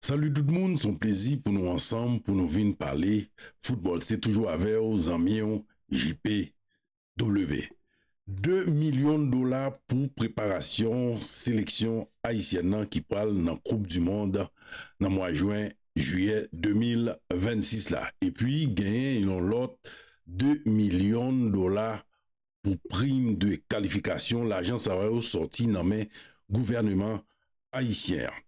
Salut tout moun son plezi pou nou ansanm pou nou vin pale football se toujou avèw zanmiw JP W 2 milyon dola pou preparasyon seleksyon ayisyèn nan ki pral nan koup du mond nan mwa jwen jiyè 2026 la epi genyen yon lòt 2 milyon dola pou prim de kalifikasyon lajan sa yo sòti nan men gouvèneman ayisyen an.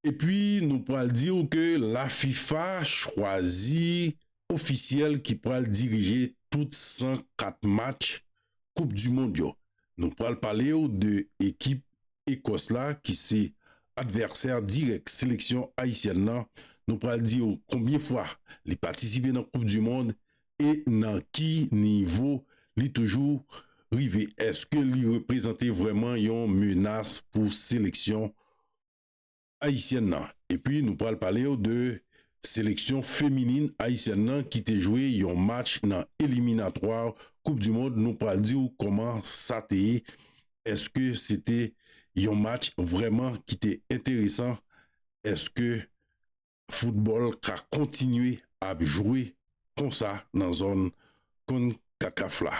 Epi nou pral di w ke la fifa chwazi ofisyèl ki pral dirije tout 104 match koup du mond yo. Nou pral pale w de ekip Ekòs la ki se advèsè dirèk seleksyon ayisyèn lan. Nou pral di w konbyen fwa li patisipe nan koup du mond e nan ki nivo li toujou rive, èske li reprezante vrèman yon menas pou seleksyon ayisyèn nan? Epi nou pral pale w de seleksyon feminin ayisyèn nan ki te jwe yon match nan eliminatwa koup du mond, nou pral di w kòman sa te ye, èske se te yon match vrèman ki te enteresan, èske. Foutbòl ka kontinye ap jwe konsa nan zòn Concacaf la.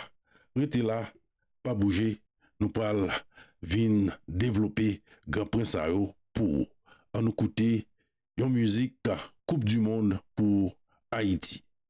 Rete la, pa bouje, nou pral vin devlope gran pwen sa yo pou ou. An nou koute yon mizik Koup Dimond pou Ayiti.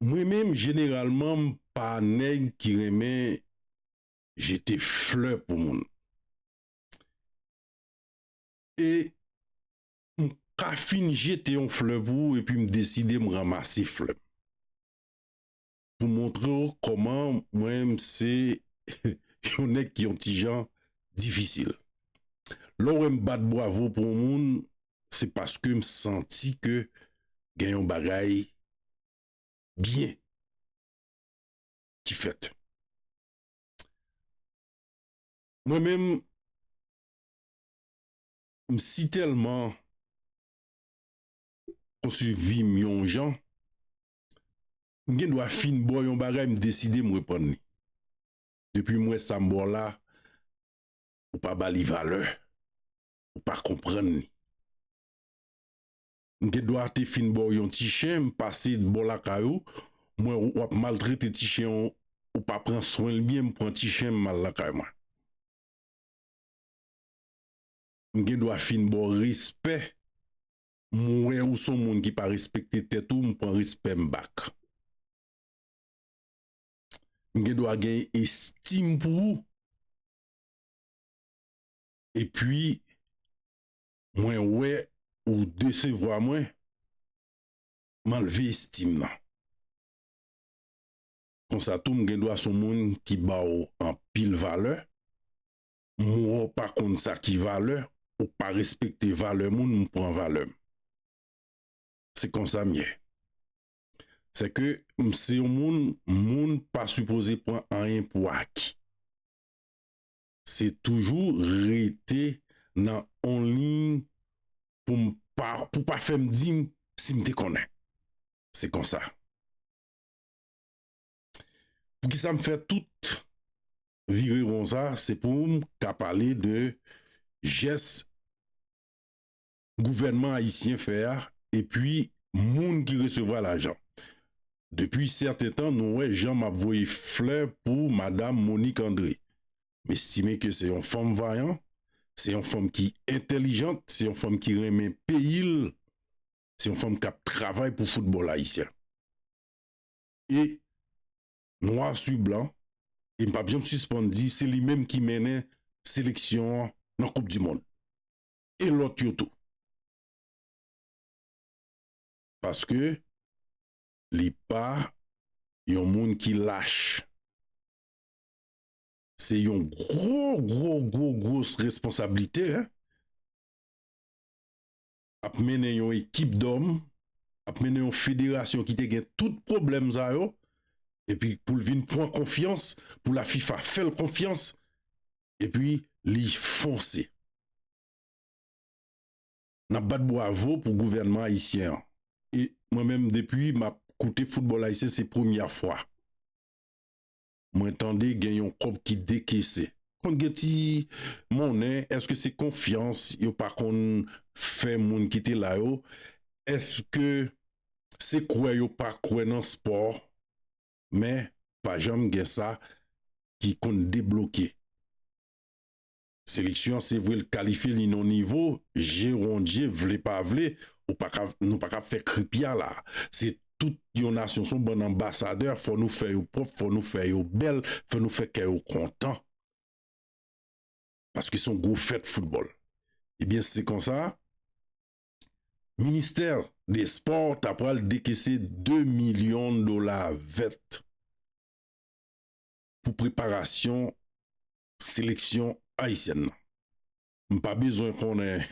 Mwen menm jeneralman m pa nèg ki renmen jete flè pou moun e m ka fin jete yon flè pou ou epi m deside m ranmase flè m pou montre w kòman mwen m se yon nèg ki yon ti jan difisil lè w wè m bat bwavo pou yon moun se paske m santi ke gen yon bagay byen ki fèt. Mwen menm, m si tèlman konstwi vi m yon jan, m gen dwa fin ba w yon bagay, m deside m reprann li. Depi m wè sa m ba w la, ou pa ba li valè. ou pa konprann li. M gen dwa te fin ba w yon ti chen, m pase bò lakay ou, m wè w ap maltrete ti chen an, ou pa pran swen l byen, m pran ti chen m al lakay mwen. M gen dwa fin ba w respè, m wè ou s on moun ki pa respekte tèt ou, m pran respè m back. M gen dwa gen estim pou ou. Epi mwen wè ou desevwa mwen, m anlve estim nan. Konsa tou m gen dwa son moun ki ba w anpil valè, m wè w pa konn sa ki valè, ou pa respekte valè moun, m pran valè m. Se konsa m ye. Sèke m se yon moun, moun pa sipoze pran anyen pou aki. Se toujou rete nan on liy pou m pa pou pa fè m di m si m te konnen. Se konsa. Poukisa m fè tout vire won sa se pou m ka pale de jès gouvènman ayisyen fè a epi moun ki resevwa lajan. Depi sèten tan nou wè jan map voye flè pou madam Monique André. M estime ke se yon fanm vayan, se yon fanm ki entèlijant, se yon fanm ki renmen peyi l, se yon fanm kap travay pou foutbòl ayisyen. E nwa su blan, e m pap janm sispann di se li menm ki mennen seleksyon an nan koup di mond. e lòt yo tou. Paske li pa yon moun ki lach. Se yon gwo gwo gwo gwos responsablite ap mennen yon ekip dòm, ap mennen yon federasyon ki te gen tout pwoblèm sa yo epi pou l vin pran konfyans, pou lafifa fè l konfyans Epi li fonse. N ap bat bwavo pou gouvènman ayisyen an. E mwen menm depi m ap koute foutbòl ayisyen se premyè fwa mwen tande gen yon kòb ki dekese. Konn gen ti monnen, èske se konfyans yo pa konn fè moun ki te la yo? Èske se kwè yo pa kwè nan spò? men pa janm gen sa ki konn debloke. Seleksyon an se vre l kalifye li nan nivo je rondje vle pa vle ou pa ka nou pa ka fè kripya la se tout yon nasyon son bann anbasadè fò nou fè yo pwòp fò nou fè yo bèl fò nou fè kè yo kontan paske son gwo fèt foutbòl ebyen se konsa. Ministè des sports ta pral dekese 2 milyon dola vèt pou preparasyon seleksyon ayisyèn nan. M pa bezwen konnen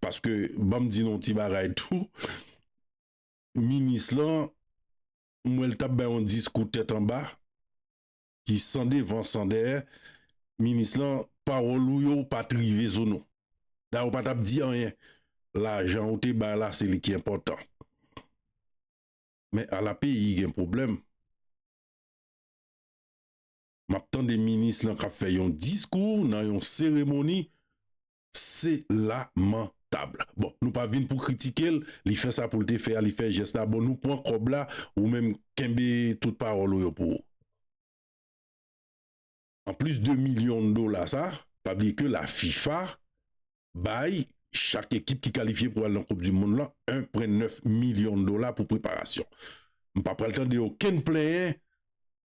paske ban m di nou yon ti bagay tou, minis lan m wè l t ap bay yon diskou tèt anba. ki san devan san dèyè minis lan pawòl ou yo pa t rive sou nou dayè ou pa t ap di anyen lajan ou te bay la se li ki enpòtan men ala peyi gen pwoblèm m ap tande minis lan k ap fè yon diskou nan yon seremoni Se lamentable. Bon nou pa vin pou kritikel, li fè sa poul te fè a li fè jès la bon nou pwan kòb la ou menm kenbe tout pawòl ou yo pou ou. An plis de milyon dola sa, pa bliye ke la fifa bay chak ekip ki kalifye pou al nan koup di mond lan 1 pwen 9 milyon dola pou preparasyon. M pa pral tande okenn plenyen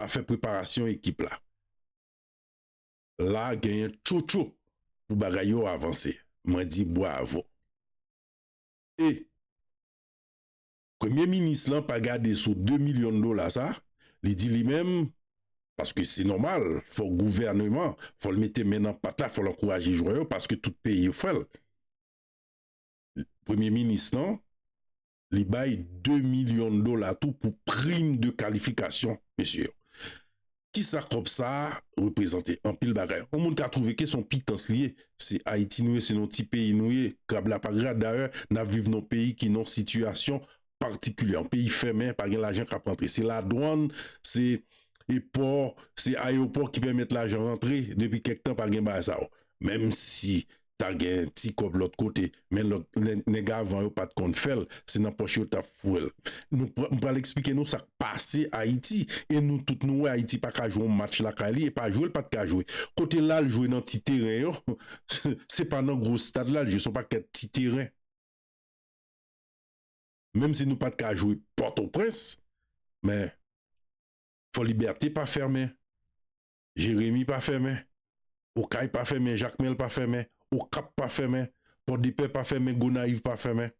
afè preparasyon ekip la. La genyen tchotcho pou bagay yo avanse mwen di bwavo e premye minis lan pa gade sou 2 milyon dola sa li di li menm paske se nòmal fò gouvèneman fòl mete men nan pat la fòl ankouraje jwè yo paske tout peyi yo fèl premye minis lan. li bay 2 milyon dola tou pou prim de kalifikasyon mesye yo. Kisa kòb sa a reprezante? Anpil bagay. Yon moun ka twouve ke se yon pitans li ye. Se Ayiti nou ye, se yon ti peyi nou ye, krab la pa gra. Dayè, n ap viv nan yon peyi ki nan yon sitiyasyon patikilyè. Yon peyi fèmen, pa gen lajan k ap rantre. Se ladwann, se pò, se ayewopò ki pèmèt lajan rantre. Depi kèk tan pa gen bagay sa yo. Menmsi ta gen ti kòb lòt kote men lòt nèg avan yo pat konn fèl se nan pòch yo tap fouwel nou pran m pral esplike nou sak pase ayiti e nou tout nou wè ayiti paka jwe yon match lakay li e pa jwel pat ka jwe kote lal jwe nan ti teren yo se pa nan gwo stad lal jwe son pakèt ti teren menm si nou pat ka jwe pòtoprens men fòlibète pa fèmen. Jeremi pa fèmen, Okay pa fèmen, Jakmèl pa fèmen, Okap pa fèmen, Pòdepè pa fèmen, Gonayiv pa fèmen.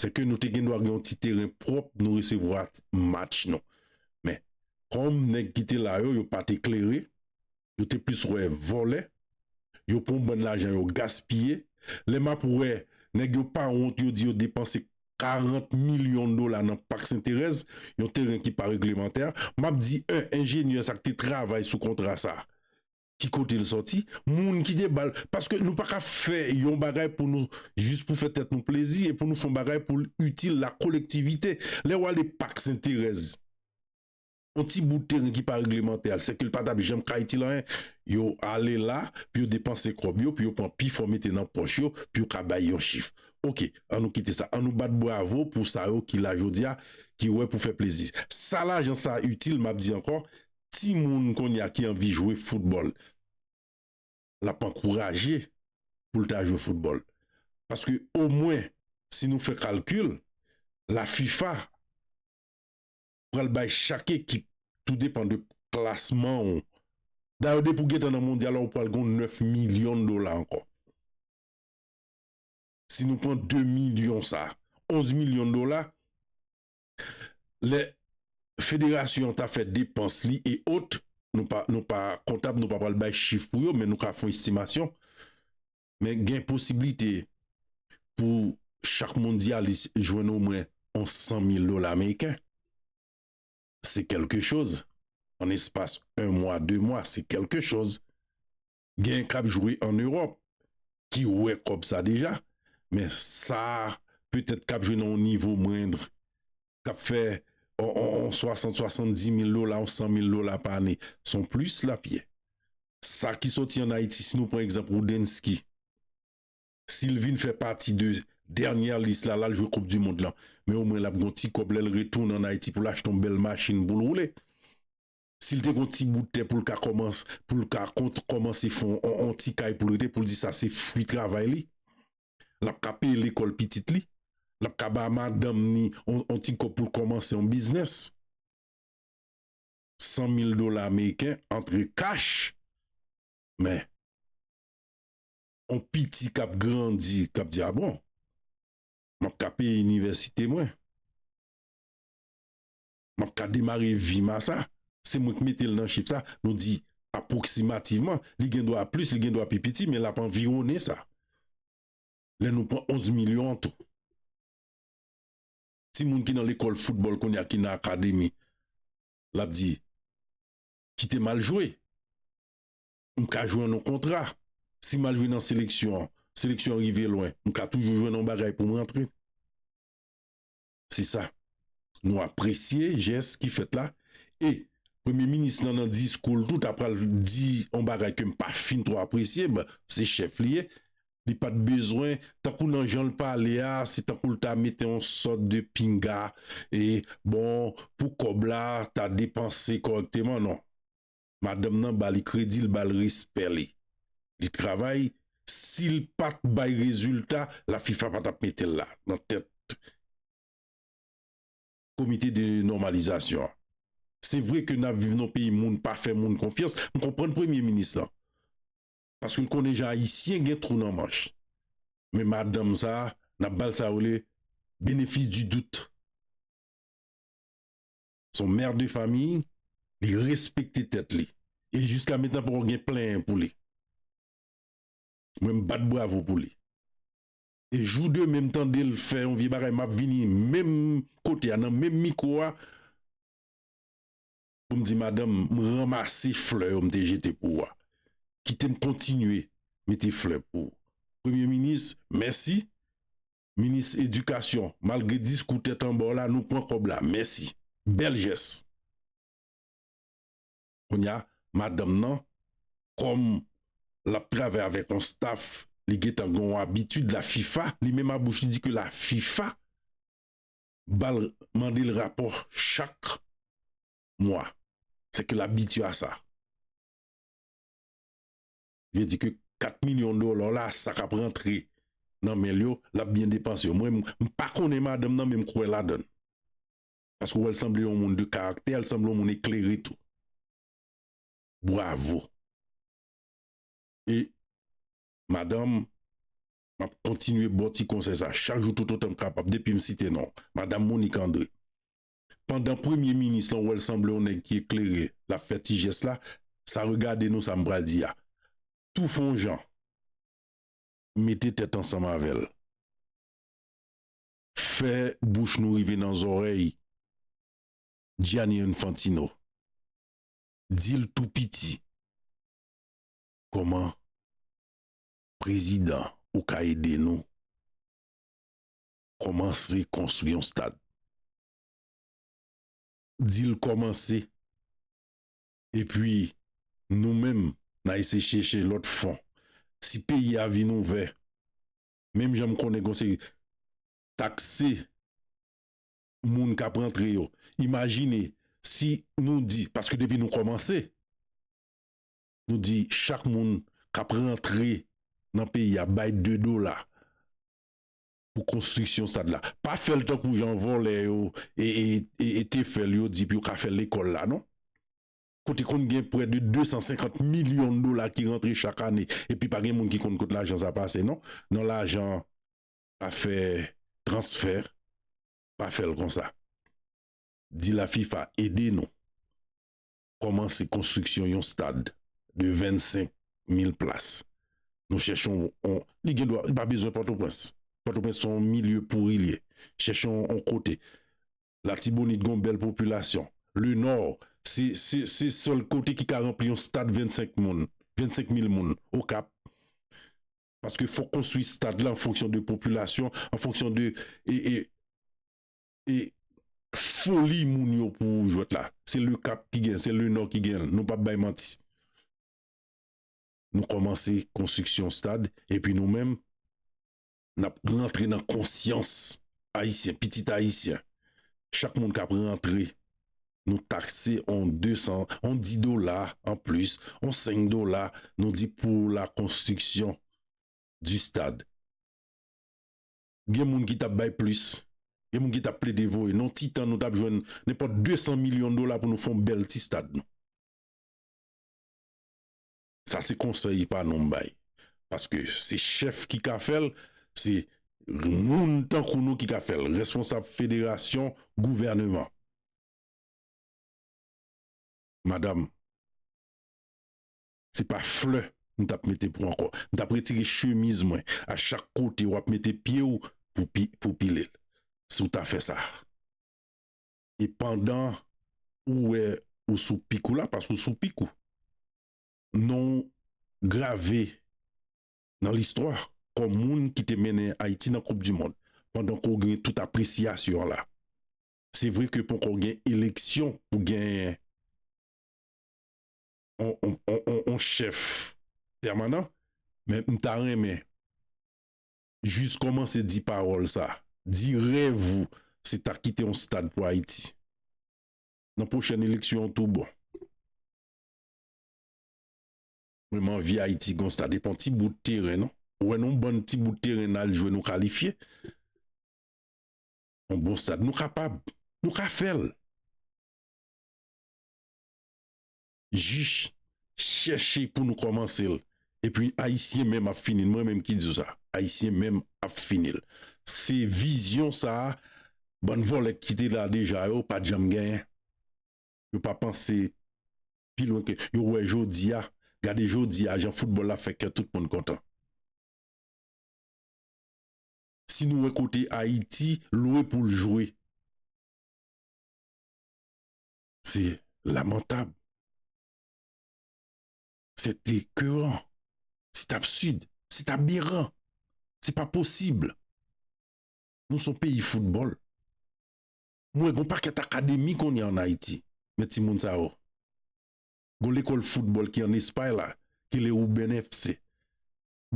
Se ke nou te gen dwa gen yon ti teren pwòp nou resevwa match nou. Men, kòm nèg ki te la yo, yo pa te klere, yo te plis wè vòlè, yo pran yon bann lajan yo gaspiye. Lè m ap wè nèg yo pa wont yo di yo depanse 40 milyon dola nan Pak Senterèz, yon teren ki pa reglemantè, m ap di 1 enjenyè sa k te travay sou kontra sa ki kote l sòti, moun ki te ba l, paske nou pa ka fè yon bagay pou nou jis pou fè tèt nou plezi e pou nou fè yon bagay pou l itil la kolektivite, lè w ale Pak Senterèz. yon ti bout teren ki pa reglemante a, sèke l pa t ap janm ka itil anyen, yo ale la pou yo depanse kòb yo, pou yo pran pi fò mete nan pòch yo, pou yo ka bay yon chif. Oke, an nou kite sa. An nou bat bravo pou sa yo ki la jodi a, ki wè pou fè plezi. Sa lajan sa a itil, m ap di ankò, timoun kounye a ki anvi jwe foutbòl, l ap ankouraje pou l ta jwe foutbòl. Paske omwen, si nou fè kalkil, la fifa, pral bay chak ekip tou depan de klasman ou. Dayè depi ou gentan nan mondyal la ou pral gen yon 9 milyon dola ankò. Si nou pran 2 milyon sa, 11 milyon dola, lè federasyon an ta fè depans li e ot, nou pa kontab nou pa pral bay chif pou yo men nou ka fon estimasyon. Men gen posiblite pou chak mondyalis jwenn omwen yon 100 mil dola ameriken. Se kèlke choz. An espas 1 mwa, 2 mwa, se kèlke choz. Gen k ap jwe an Ewòp ki wè kòb sa deja. Men sa petèt k ap jwe nan yon nivo mwendr k ap fè yon swasant, swasantdi mil dola, yon san mil dola pa ane, se yon plis l ap ye. Sa ki soti ann Ayiti, si nou pran egzanp Roudensky, si l vin fè pati de dènyè lis la, l al jwe koup di mond lan, men omwen l ap gen yon ti kòb lè l retounen ann Ayiti pou l achte yon bèl machin pou l woule. Si l te gon ti bout tè pou l ka kòmans, pou l ka kont kòmanse fon on on ti kay pou l rete pou l di sa se fwi travay li. L ap ka peye lekòl pitit li. L ap ka ba madanm ni on on ti kòb pou l kòmanse on biznès. San mil dola ameriken antre kach. Men. On piti k ap grandi k ap di a bon. M ap ka peye inivèsite mwen. Map ka demare vim a sa, se mwen k metel nan chif sa, nou di aproximativman, li gen dwa plis li gen dwa pi piti men lap anvironnen sa. Lè nou pran 11 milyon an tou. Timoun ki nan lekòl foutbòl kounye a ki nan akademi, lap di kitem al jwe, m ka jwe an yon kontra, si mal jwe nan seleksyon an, seleksyon an rive lwen, m ka toujou jwenn yon bagay poum rantre. Se sa. Nou apresye jès ki fèt la e Premye minis lan nan diskou l tou ta pral di yon bagay ke m pa fin twò apresye, bon se chèf li ye, li pa t bezwen, tankou nan jan l pale a se tankou l ta mete yon sòt de pinga e bon pou kòb la ta depanse kòrèkteman non. madanm nan bali kredi l bal respè li li travay sil pat bay rezilta la fifa pa tap metel la nan tèt komite de nòmalizasyon an se vre ke nap viv nan peyi moun pa fè moun konfyans m konprann premye minis lan paske l konnen jan ayisyen gen twou nan manch men madanm sa nap bal sa yo rele benefis di dout. son mère de famille li respekte tèt li e jiska metan poko gen plenyen pou li mwen m bat bravo pou li e jou demen m tande l fè yon vye bagay map vini menm kote a nan menm mikwo a pou m di madanm m ranmase flè yo m te jete pou ou a kite m kontinye mete flè pou ou premye minis mèsi. Minis edikasyon malgre diskou tèt anbaw la nou pwan kòb la mèsi bèl jès. Kounya madanm nan kòm lap travay avèk yon staf li gentan gen yon abitid la fifa li menm a bouch li di ke la fifa bal mandel rapò chak mwa sèke l abitye a sa. vle di ke 4 milyon dola la sa kap rantre nan men l yo lap byen depanse yo mwen m pa konnen madanm nan men m kwè ladann paske ou wè l sanble yon moun de karaktè l sanble yon moun eklere tou bwavo e madanm map kontinye baw ti konsèy sa chak jou toutotan m kapab depi m site non w madam Monique André Pandan premye minis lan wèl sanble yon nèg ki eklere lap fè ti jès la sa regade nou sam pral di a tou fon jan mete tèt ansanm avèl fè bouch nou rive nan zòrèy Gianni Infantino dil tou piti kòman prezidan ou ka ede nou. Kòmanse konstwi yon stad. Di l kòmanse. Epi nou menm n a eseye chèche lòt fon. Si peyi a vin ouvè, menm jan m konnen gen yon seri takse moun k ap rantre yo, imajine si nou di, paske depi nou kòmanse, nou di chak moun k ap rantre nan peyi a bay 2 dola. pou konstriksyon stad la pa fèl tankou jan vòlè yo te fèl yo di pou yo ka fè lekòl la non kote konn gen prè de 250 milyon dola ki rantre chak ane epi pa gen moun ki konn kot lajan sa pase non nan lajan pa fè transfè pa fèl konsa di la fifa ede nou. kòmanse konstriksyon yon stad de 25 mil plas. Nou chèche yon, li gen dwa, li pa bezwen Pòtoprens. Pòtoprens se yon milye pouri l ye. Chèche yon kote. Latibonit gen yon bèl popilasyon. Lenò, se sèl kote ki ka ranpli yon stad 25 moun, 25 mil moun. Okap. Paske fòk konstwi stad la an fonksyon de popilasyon, an fonksyon de. E foli moun yo pou jwèt la. Se le cap ki gen, se le nord ki gen l, nou pap bay manti. Nou kòmanse konstriksyon stad epi nou menm nap rantre nan konsyans ayisyen, pitit ayisyen. Chak moun kap rantre nou takse on 200, on 10 dola an plis, on 5 dola nou di pou la konstriksyon di stad. gen moun ki tap bay plis, gen moun ki tap plede voye non ti tan nou tap jwenn nenpòt 200 milyon dola pou nou fè yon bèl ti stad nou. Sa se konsèy pa nou m bay. Paske se chèf ki ka fèl, se moun tankou nou ki ka fèl, responsab federasyon, gouvèneman. Madam. Se pa flè m tap mete pou ankò. M tap retire chemiz mwen a chak kote wap mete pye w pou pile l si w ta fè sa. E pandan ou wè ou sou pik ou la paske ou sou pik ou. Non w grave nan listwa kòm moun ki te mennen Ayiti nan koup di mond pandan ke w gen tout apresyasyon la. Se vre ke ponkò gen eleksyon pou genyen. yon chèf pèmanan men m ta renmen jis kòmanse di pawòl sa di rèv ou se ta kite yon stad pou ayiti nan pwochèn eleksyon an tou bon mwen m anvi ayiti gen yon stad e pa yon ti bout teren non ou wè yon bann ti bout teren n al jwe nou kalifye yon bon stad nou kapab nou ka fèl. Jis chèche pou nou kòmanse l epi ayisyen menm ap fini l mwen menm ki di w sa ayisyen menm ap fini l se vizyon sa bann vòlè ki te la deja yo pat janm genyen yo pa panse pi lwen ke yo wè jodi a gade jodi a jan foutbòl la fè kè tout moun kontan si nou wè kote ayiti lwe pou l jwe. Se lamantab. C'est écœurant. C'est absurde. C'est aberrant. C'est pas possible. Nou son peyi foutbòl. M wè gon pakèt akademi kounye a an Ayiti. Men timoun sa yo. Gon lekòl foutbòl ki an Espay la ki rele Ruben FC.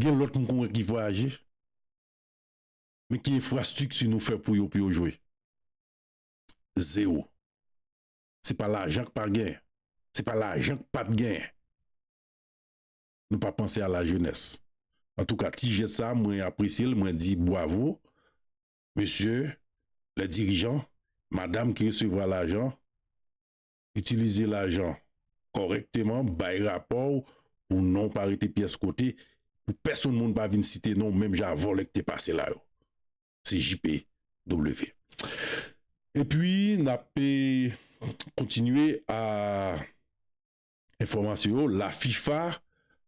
Gen lòt m kon wè ki vwayaje. Men ki enfrastrikti nou fè pou yo pou yo jwe? Zero. Se pa lajan k pa gen. Se pa lajan k pat gen. Nou pa panse a la jenès. Antouka ti jès sa a mwen apresye l, mwen di bwavo mesye lè dirijan, madam ki resevwa lajan, itilize lajan kòrèkteman, bay rapò w pou non w pa rete pyès kote, pou pèsonn moun pa vin site non w menm jan a vòlè k te pase la yo. se JPW. E pwi n ap kontinye a enfòmasyon yo, la fifa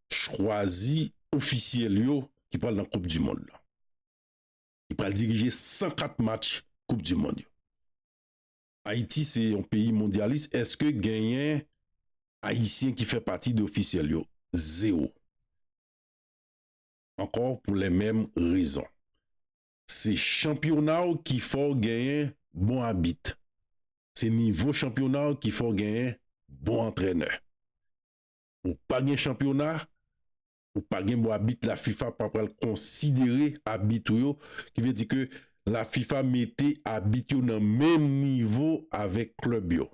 chwazi ofisyèl yo ki pral nan koup di mond la. Ki pral dirije 104 match koup di mond yo. Ayiti se yon peyi mondyalis eske genyen ayisyen ki fè pati de ofisyèl yo? Zewo. ankò pou lè menm rezon. Se chanpyona w ki fè w genyen bon abit. Se nivo chanpyona w ki fè w genyen bon antrènè. Ou pa gen chanpyona, ou pa gen bon abit la fifa pa pral konsidere abit ou yo ki vle di ke la fifa mete abit yo nan menm nivo avèk klèb yo.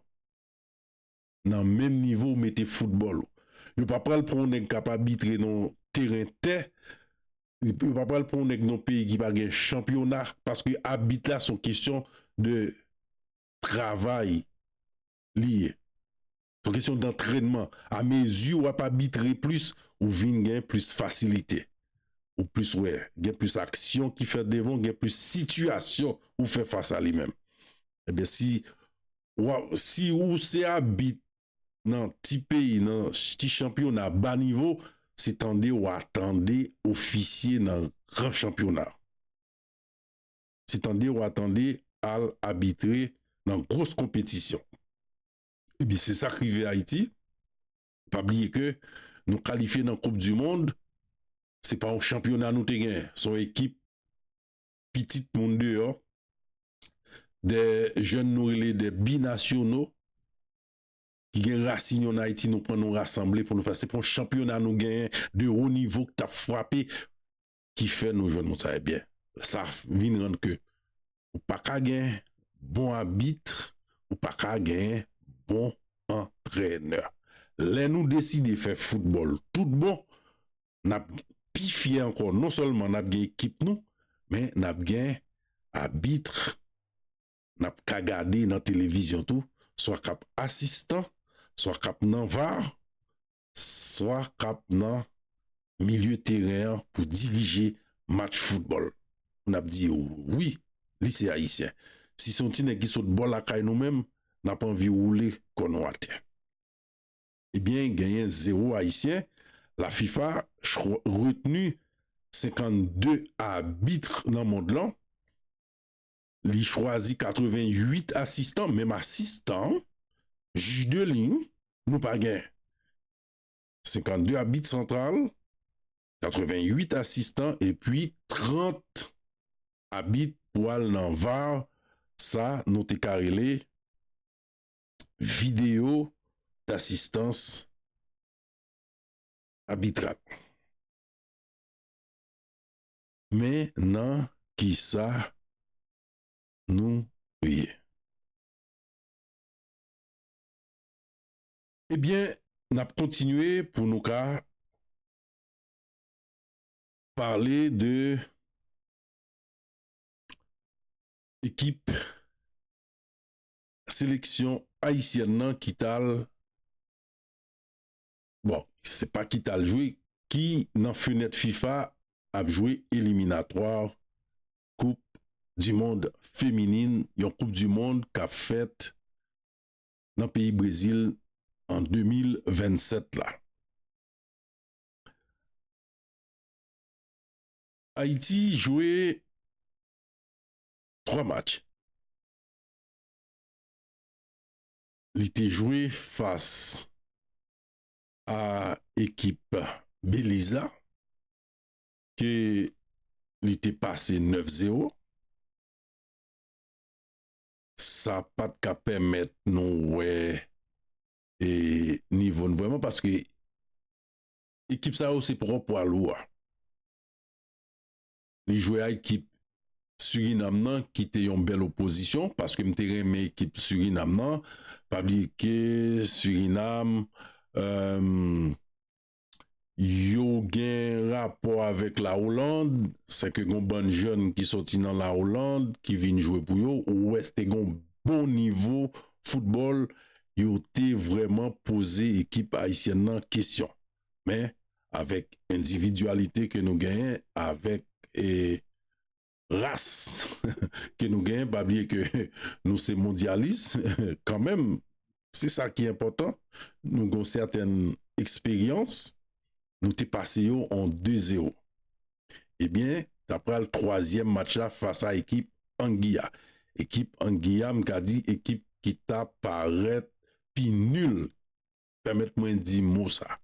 nan menm nivo ou mete foutbòl ou. Yo pa pral pran yon nèg k ap abitre nan yon teren tè, yo pa pral pran yon nèg nan yon peyi ki pa gen chanpyona paske abit la se yon kesyon de travay li ye. Se yon kesyon dantrènman. A mezi w ap abitre plis, ou vin gen plis fasilite. Ou plis wè, gen plis aksyon ki fèt devan w, gen plis sitiyasyon ou fè fas a li menm. Ebyen si Waw si ou se abit nan ti peyi nan ti chanpyona ba nivo se tande wa tande ofisye nan gran chanpyona se tande wa tande al abitre nan gros konpetisyon ebyen se sak rive ayiti pa bliye ke nou kalifye nan koup du mond se pa yon chanpyona nou te gen son ekip pitit moun deyò, de jèn nou rele de binasyono, ki gen rasin yo nan Ayiti, nou pran nou rasanble pou nou fè, se pou yon chanpyona nou genyen de wo nivo ki ta frape, ki fè nou jwenn moun sa yo, ebyen, sa vin rann ke ou pa ka gen bon abit, ou pa ka gen bon antrenè. Lè nou deside fè foutbòl tout bon, n ap pi fyè ankò non sèlman n ap gen ekip nou men n ap gen abitre n ap ka gade nan televizyon tou swa k ap asistan swa k ap nan var swa k ap nan milye teren an pou dirije match foutbòl n ap di yo wi li se ayisyen si se yon ti nèg ki sot bò lakay nou menm n ap anvi woule kò nou atè. Ebyen genyen zero ayisyen la fifa chro retenu 52 abitre nan mond lan li chwazi 88 asistan menm asistan jij de liy nou pa gen 52 abit santral 88 asistan epi 30 abit pou al nan var sa nou te ka rele. videyo dasistans abitral. Men nan ki sa nou ye. Ebyen, n ap kontinye pou nou ka pale de ekip. Seleksyon ayisyèn nan ki t al, bon se pa ki t al jwe, ki nan fenèt fifa ap jwe eliminatwa koup dimond feminin, yon koup dimond k ap fèt nan peyi Brezil an 2027 la. Ayiti jwe 3 match. Li te jwe fas a ekip Beliz la ke li te pase 9 zero. Sa pa t ka pèmèt nou wè e nivo n vrèman paske ekip sa yo se pwòp pwa lou a. li jwe a ekip Surinam nan ki te yon bèl opozisyon paske m te renmen ekip Surinam nan pa bliye ke Surinam yo gen rapò avèk la Oland se ke gon bann jèn ki soti nan la Oland ki vin jwe pou yo ou wè te gon bon nivo foutbòl yo te vrèman poze ekip Ayisyèn nan kesyon. men avèk endividyalite ke nou genyen avèk e ras ke nou genyen pa bliye ke nou se mondyalis kanmenm se sa ki enpòtan nou gon sèten eksperyans nou te pase yo an 2 zero ebyen ta pral twazyèm match la fas a ekip Angi a ekip Angi a m ka di ekip ki ta parèt pi nil Pèmèt mwen di mo sa.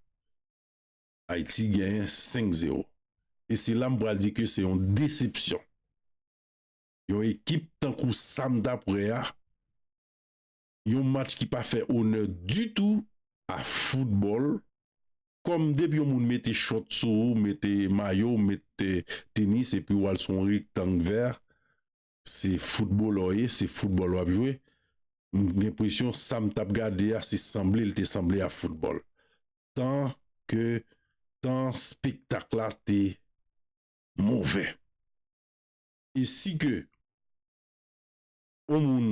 Ayiti genyen 5 zero. E se la m pral di ke se yon desepsyon. Yon ekip tankou sa m tap wè a, yon match ki pa fè onè ditou a foutbòl, kòm depi yon moun mete chòt sou ou, mete mayo, mete tenis epi w al sou yon rektang vè, Se footballè w ye, se football wap jwe, m gen presyon sam tap gade a se sanble l te sanble a football. Tan ke tan spektak la te movè. E si ke on moun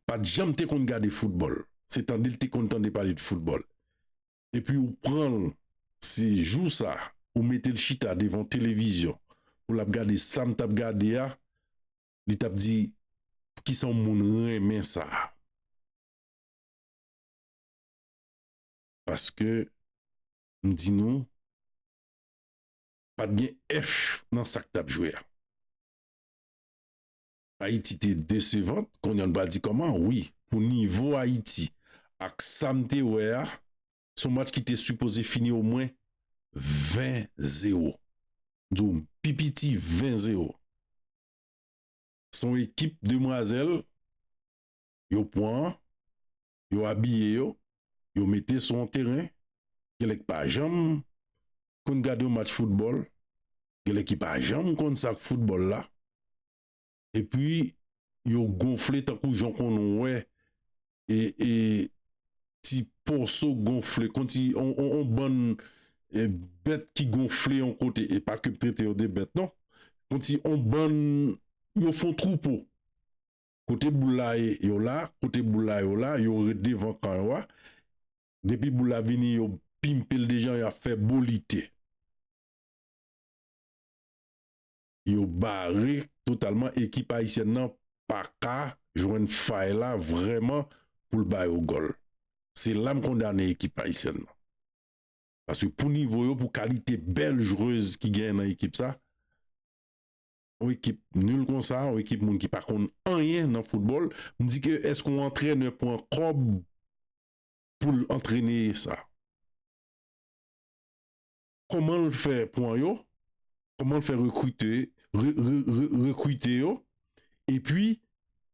pat janm te konn gade football, se tande l te konn tande pale de football. epi ou pran l se jou sa ou mete l chita devan televizyon pou lap gade sa m tap gade a li tap di poukisa yon moun renmen sa paske m di nou pat gen F nan sak tap jwe a. Ayiti te desevant konnya nou pral di kòman wi pou nivo Ayiti ak sam te wè a se yon match ki te sipoze fini omwen 20 zero m di w pi piti 20 zero se yon ekip demwazèl yo pwan yo abiye yo, yo mete sou yon teren, gen lè k pa janm konn gade yon match foutbòl, gen lè ki pa janm konn sa k foutbòl la, epi yo gonfle tankou jan w konn wè ti poso gonfle, kon ti yon bann bèt ki gonfle yon kote, e pa ke m trete yo de bèt non, kon ti yon bann, yo fon twoupo, Kote boul la ye yo la, kote boul la yo la, yo ret devan kan yo a, depi boul la vini yo pimpe l dejan yo ap fè bolite. Yo bare totalman ekip ayisyèn nan paka jwenn fay la vrèman pou l ba yo gòl. Se la m kondane ekip ayisyèn nan. Paske pou nivo yo, pou kalite bèl jwez ki genyen nan ekip sa. yon ekip nul konsa, yon ekip moun ki pa konn anyen nan foutbòl, m di ke èske yon antrenè pran kòb pou l antrene sa? Kòman l fè pran yo? Kòman l fè rekrite, rekrite yo? E pi,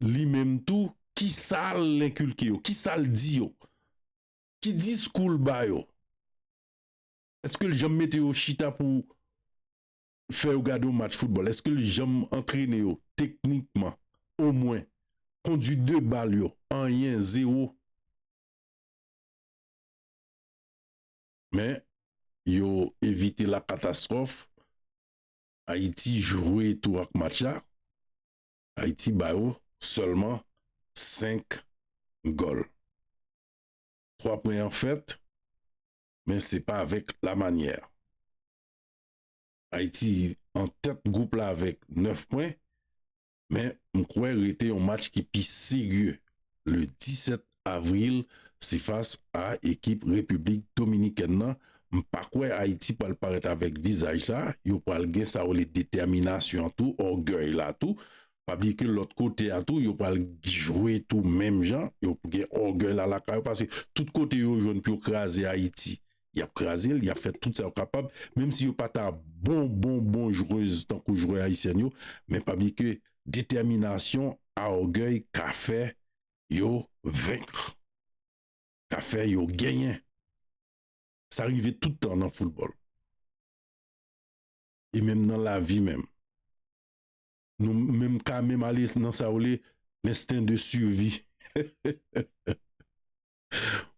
li menm tou, ki sa l enkilke yo? Ki sa l di yo? Ki diskou l ba yo? Èske l janm mete yo chita pou fè yo gade yon match foutbòl? Èske l janm antrene yo teknikman omwen? Kondwi de bal yo, anyen, zewo. Men, yo evite lakatastwòf. Ayiti jwe tou ak match la. Ayiti ba yo sèlman 5 gòl. 3 pwen an fèt, men se pa avèk lamanyè. Ayiti an tèt gwoup la avèk 9 pwen, men m kwè rete yon match ki pi serye le 17 avril se fas a ekip Repiblik Dominikèn nan, m pa kwè Ayiti pral parèt avèk vizaj sa, yo pral gen sa yo rele detèminasyon an tou, ògèy la tou, pa bliye ke lòt kote a tou yo pral jwe tou menm jan, yo gen ògèy la lakay yo, paske tout kote yo jwenn pou yo kraze Ayiti. yap krazel yap fè tout sa yo kapab menm si yo pata bon bon bon jwez tankou jwè ayisyèn yo men pa bliye ke detèminasyon a ògèy ka fè yo venk ka fè yo genyen sa rive tout tan nan foutbòl e menm nan lavi menm nou menm ka menm ale nan sa yo rele lensten de sivi.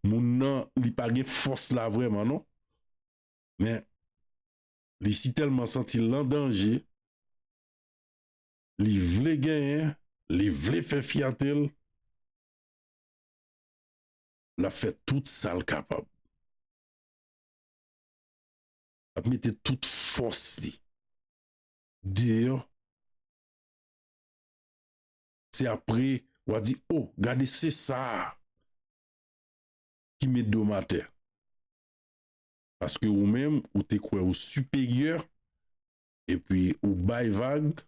Moun nan li pa gen fòs la vrèman non. Men li si tèlman santi l an danje, li vle genyen, li vle fè fyate l, l ap fè tout sa l kapab. L ap mete tout fòs li deyò. Se apre wa di oh gade sesa ki met dom atè. Paske ou menm ou te kwè ou siperyè epi ou bay vag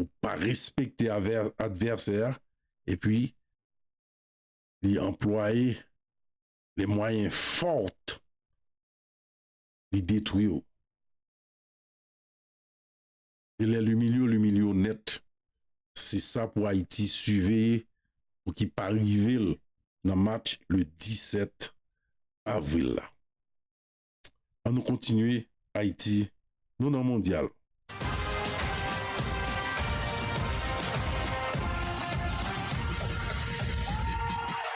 ou pa respekte advèsè a epi li anplwaye les moyens fort li detwiw. E lèl imilye w l imilye w nèt se sa pou ayiti siveye pou ki pa rive l nan match le 17 avril la an nou kontinye ayiti nou nan mondyal.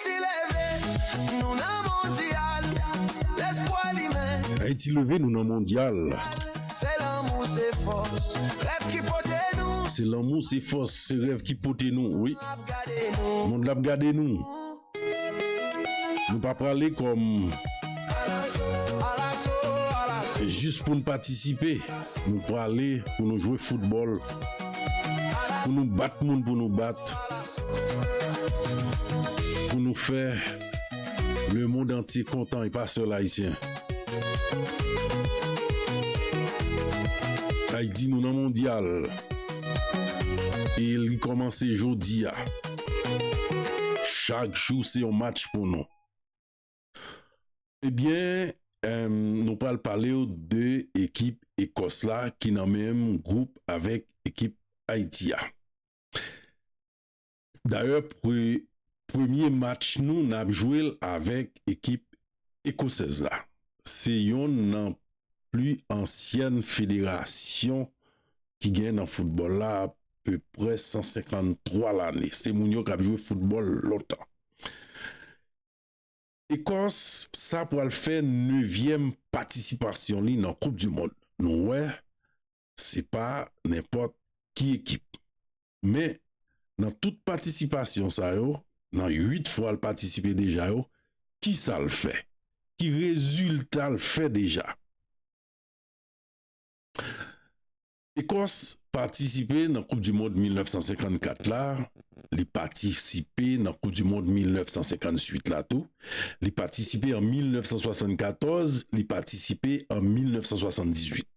Ti leve nou nan mondyal lespwa limen. Ayiti leve nou nan mondyal. Se lanmou se fòs rèv ki pote nou. Se lanmou se fòs se rèv ki pote nou wi. Mond la ap gade nou. Nou pa prale kòm. Alaso alaso alaso. Jis pou nou patisipe. Nou prale pou nou jwe foutbòl. Pou nou bat moun pou nou bat. Pou nou fè le mond antye kontan e pa sèl ayisyen. Ayiti nou nan mondyal e li kòmanse jodi a. Chak jou se yon match pou nou. Ebyen nou pral palew de ekip Ekòs la ki nan menm gwoup avèk ekip Ayiti a. Dayè premye match nou nap jwe l avèk ekip ekosèz la se yonn nan pli ansyèn federasyon ki gen nan foutbòl la apeprè 153 lane se moun yo kap jwe foutbòl lontan. Ekòs sa pral fè nevyèm patisipasyon li nan koup dimond nou wè se pa nenpòt ki ekip. Men, nan tout patisipasyon sa yo, nan 8 fwa l patisipe deja yo, ki sa l fè? Ki rezilta l fè deja? Ekòs patisipe nan koup di mond 1954 la, li patisipe nan koup di mond 1958 la tou, li patisipe an 1974, li patisipe an 1978.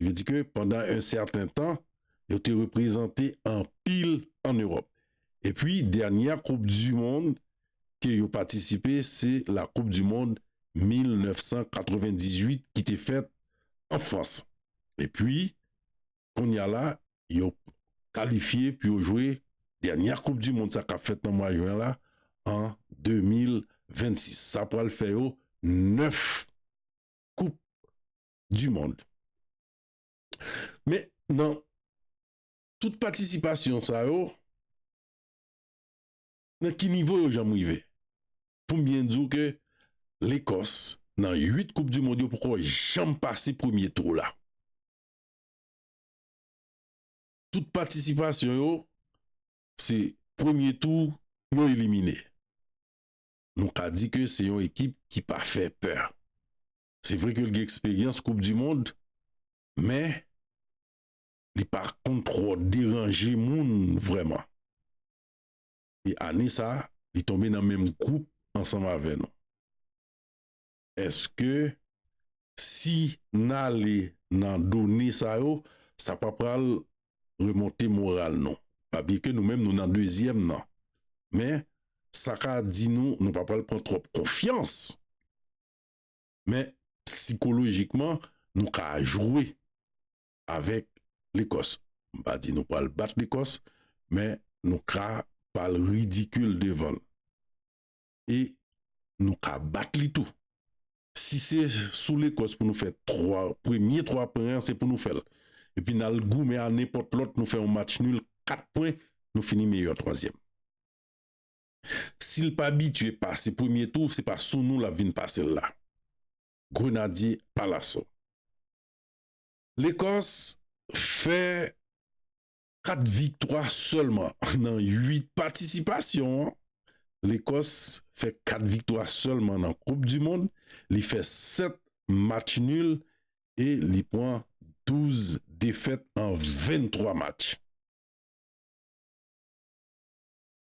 Li di ke pandan en sèten tan, yo te reprezante anpil an Ewòp. E pwi dènyè koup di mond ke yo patisipe se la koup di mond 1998 ki te fèt an Frans. E pwi kounye a la yo kalifye pou yo jwe dènyè koup di mond sa kap fèt nan mwa jwen la an 2026. Sa pwal fè yo 9 koup du monde men nan tout patisipasyon sa yo nan ki nivo yo janm rive poum byen diw ke lekòs nan 8 koup du monde yo poko janm pase premye tou la tout patisipasyon yo se premye tou yo elimine nou ka di ke se yon ekip ki pa fè pè. Se vre ke l gen eksperyans koup di mond, men li pa konn twò deranje moun vrèman. E ane sa, li tonbe nan menm gwoup ansanm avè nou. Eske si n ale nan done sa yo, sa pa pral remonte moral nou? A byen ke nou menm nou nan dezyèm nan, men sa ka di nou nou pa pral pran twòp konfyans. Men, psikolojikman, nou ka jwe avèk Lekòs. M pa di nou pral bat Lekòs, men nou ka pa l ridikil devan l. E nou ka bat li tou. Si se sou Lekòs pou nou fè twa, premye twa pwen an se pou nou fè l. Epi n al goumen a nenpòt lòt nou fè yon match nil, kat pwen, nou fini meyè twazyèm. Si l pa bitye pase premye tou se pa sou nou l ap vin pase l la. Grenadye Palaso. Lekòs fè 4 viktwa sèlman nan 8 patisipasyon an. Lekòs fè 4 viktwa sèlman nan koup di mond, li fè 7 match nil e li pran 12 defèt an 23 match.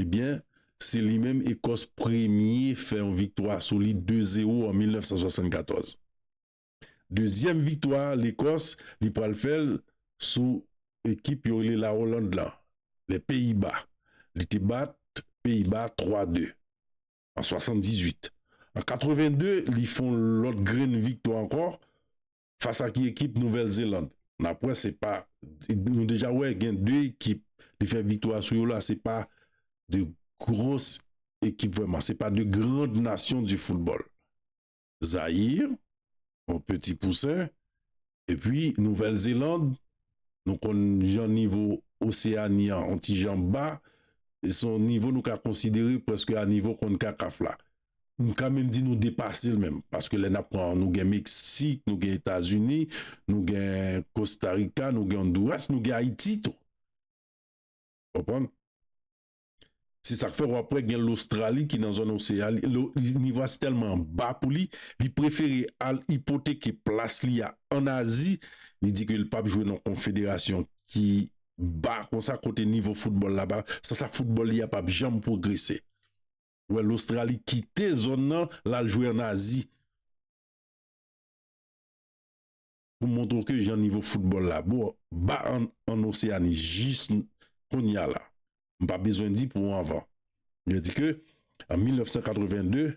Ebyen, se li menm Ekòs premye fè yon viktwa sou li 2 zero an 1974. Dezyèm viktwa Lekòs li pral fè l sou ekip yo rele La Oland la, Les Pays-Bas. Li te bat Peyiba 3 de an 78. An 82 li fon lòt grenn viktwa ankò Fas a ki ekip Nouvèl Zeland nap wè se pa nou deja wè gen 2 ekip li fè viktwa sou yo la se pa de gros ekip vrèman se pa de grand nasyon di foutbòl Zayir yon peti pousen epi Nouvèl Zeland nou konn jan nivo Oseani an yon ti jan ba se yon nivo nou ka konsidere prèske a nivo konkakaf la M ka menm di nou depase l menm paske lè n ap pran nou gen Meksik, nou gen Etazini, nou gen Kostarika, nou gen Onduras, nou gen Ayiti tou. Konprann? Se sa k fè w ap wè gen Lostrali ki nan zòn oseyan li nivo a tèlman ba pou li, li prefere al ipoteke plas li a ann Azi, li di ke l pap jwe nan konfederasyon ki ba konsa kote nivo foutbòl la ba, san sa foutbòl li a pap janm pwogrese. wè Lostrali kite zòn nan l al jwe an Azi pou montre w ke jan nivo foutbòl la bo ba an Oseani jis kounya la. M pa bezwen di pou anvan. Yo di ke an 1982,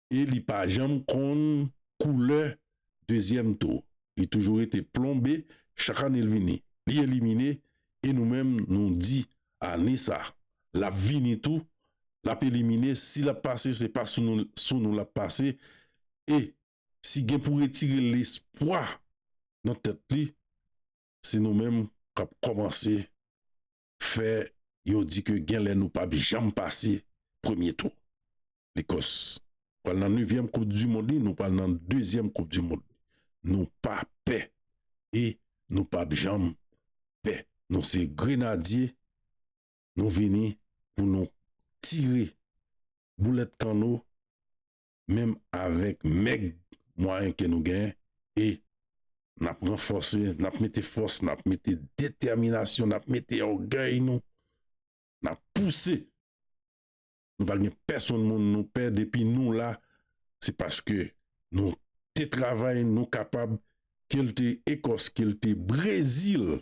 e li pa janm konn koulè dezyèm tou. Li toujou rete plonbe chak ane l vini. Li elimine e nou menm nou di ane sa l ap vini tou l ap elimine si l ap pase se pa sou nou sou nou l ap pase e si gen pou retire lespwa nan tèt li se nou menm k ap kòmanse fè yo di ke genlè nou pap janm pase premye tou. Bikòs pral nan nevyèm koup di mond li, nou pral nan dezyèm koup di mond. Nou pa pè e nou pap janm pè. Nou se grenadye, nou vini pou nou tire boulèt kanno menm avèk mèg mwayen ke nou gen e nap ranfòse, nap mete fòs, nap mete detèminasyon, nap mete ògèy nou, nap pouse. Nou pa gen pèsonn moun nou pè depi nou la, se paske nou te travay, nou kapab, ke l te Ekòs, ke l te Brezil,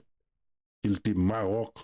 ke l te Maròk,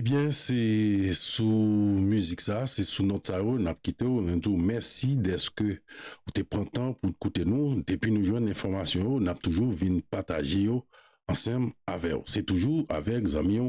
Ebyen se sou mizik sa, se sou nòt sa yo nap kite w, nou di w mèsi dèske ou te pran tan pou koute nou, depi nou jwenn enfòmasyon yo nap toujou vin pataje yo ansanm avè w, se toujou avèk zanmi w